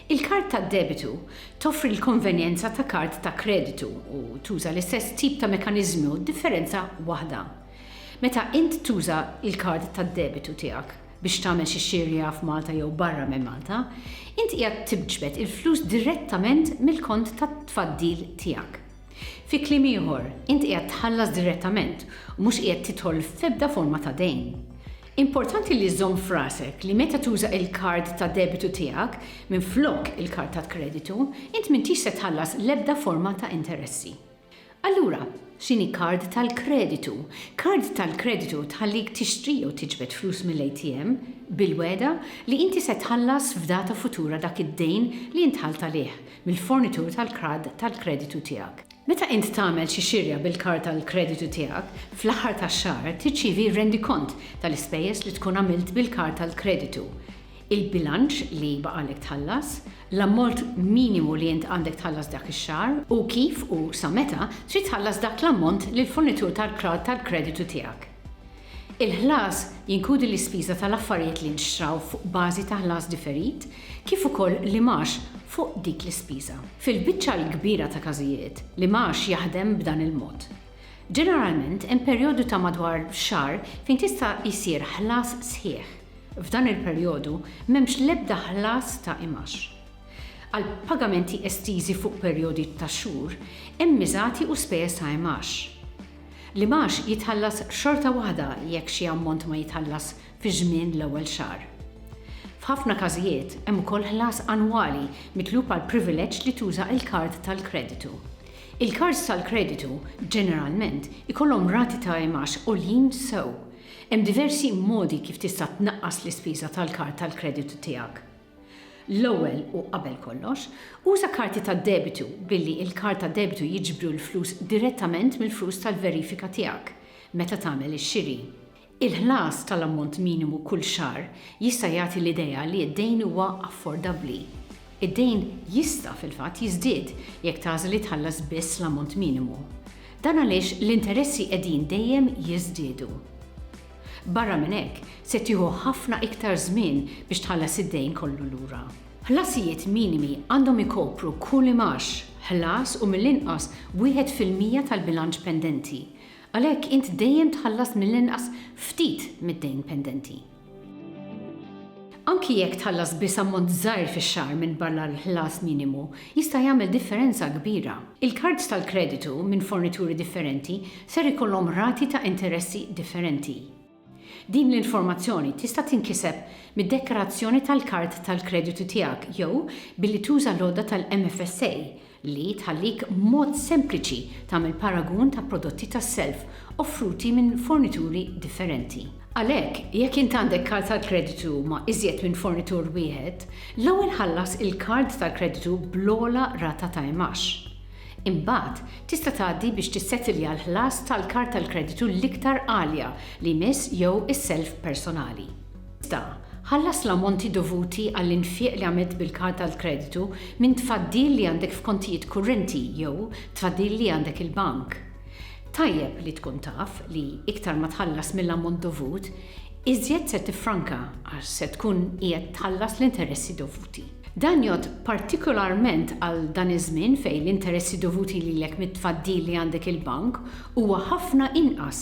Il-kard ta' debitu toffri l-konvenjenza ta' kard ta' kreditu u tuża l-istess tip ta' mekkaniżmu, differenza waħda. Meta int tuża l-kard ta' debitu tiegħek, biex tagħmel xi xirja f'Malta jew barra minn Malta, int qiegħed tiġbed il-flus direttament mill-kont ta' tfaddil tiegħek. Fi kliem ieħor, int qiegħed tħallas direttament u mhux qiegħed tidħol f'ebda forma ta' dejn. Importanti li żżomm f'rasek li meta tuża il-kard ta' debitu tiegħek minflok il-kard ta' kreditu, int m'intix se tħallas l-ebda forma ta' interessi. Allura, x'inhi kard tal-kreditu? Kard tal-kreditu tħallik tixtri jew tiġbed flus mill-ATM bil-wegħda li inti se tħallas f'data futura dak id-dejn li int ħalt għalih mill-fornitur tal-kard tal-kreditu tiegħek. Meta int tagħmel xi xirja bil-kard tal-kreditu tiegħek, fl-aħħar tax-xahar tirċievi rendikont tal-ispejjeż li tkun għamilt bil-kard tal-kreditu. il-bilanċ li baqgħalek tħallas, l-ammort minimu li int għandek tħallas dak ix-xahar u kif u sa meta trid tħallas dak l-ammont lill-fornitur tal-kreditu tiegħek. Il-ħlas jinkludi l-ispiża tal-affarijiet li nxtraw fuq bażi ta' ħlas differit kif ukoll l-imgħax fuq dik l-ispiża. Fil-biċċa l-kbira ta' każijiet, l-imgħax jaħdem b'dan il-mod. Ġeneralment hemm perjodu ta' madwar xahar fejn tista' jsir ħlas sħiħ. F'dan il-perjodu m'hemmx l-ebda ħlas ta' imgħax. Għal pagamenti estiżi fuq perjodi ta' xhur, hemm miżati u spejjeż ta' imgħax. L-imgħax jitħallas xorta waħda jekk xi ammont ma jitħallas fi żmien l-ewwel xahar. F'ħafna każijiet, hemm ukoll ħlas annwali mitlub għall-privileġġ li tuża l-kard tal-kreditu. Il-kards tal-kreditu ġeneralment ikollhom rati ta' imgħax għoljin sew Hemm diversi modi kif tista' tnaqqas l-ispiża tal-kard tal-kreditu tiegħek. L-ewwel u qabel kollox, uża karti tad-debitu billi l-kard tad-debitu jiġbru l-flus direttament mill-flus tal-verifika tiegħek meta tagħmel ix-xiri. Il-ħlas tal-ammont minimu kull xahar jista' jagħti l-idea li d-dejn huwa affordabbli. Id-dejn jista', fil-fatt, jiżdied jekk tagħżel li tħallas biss l-ammont minimu. Dan għaliex l-interessi qegħdin dejjem jiżdiedu. Barra minn hekk, se tieħu ħafna iktar żmien biex tħallas id-dejn kollu lura. Ħlasijiet minimi għandhom ikopru kull imgħax, ħlas u mill-inqas wieħed fil-mija tal-bilanċ pendenti. Għalhekk int dejjem tħallas mill-inqas ftit mid-dejn pendenti. Anki jekk tħallas biss ammont żgħir fix-xahar minbarra l-ħlas minimu, jista' jagħmel differenza kbira. Il-kards tal-kreditu minn fornituri differenti ser ikollhom rati ta' interessi differenti. Din l-informazzjoni tista' tinkiseb mid-dekkarazzjoni tal-kard tal-kreditu tiegħek jew billi tuża l-għodda tal-MFSA li tħallik b'mod sempliċi tagħmel paragun ta' prodotti tas-self offruti minn fornituri differenti. Għalhekk, jekk int għandek kard tal-kreditu ma' iżjed minn fornitur wieħed, l-ewwel ħallas il-kard tal-kreditu bl-ogħla rata ta' imgħax. Imbagħad, tista' tgħaddi biex tissettilja l-ħlas tal-kard tal-kreditu l-iktar għalja li jmiss jew is-self personali. Iżda, ħallas l-ammonti dovuti għall-infieq li għamilt bil-kard tal-kreditu minn tfaddil li għandek f'kontijiet kurrenti jew tfaddil li għandek il-bank. Tajjeb li tkun taf li iktar ma tħallas mill-ammont dovut, iżjed se tiffranka għax se tkun qiegħed tħallas l-interessi dovuti. Dan jgħodd partikolarment għal dan iż-żmien fejn l-interessi dovuti lilek mit-tfaddil li għandek il-bank huwa ħafna inqas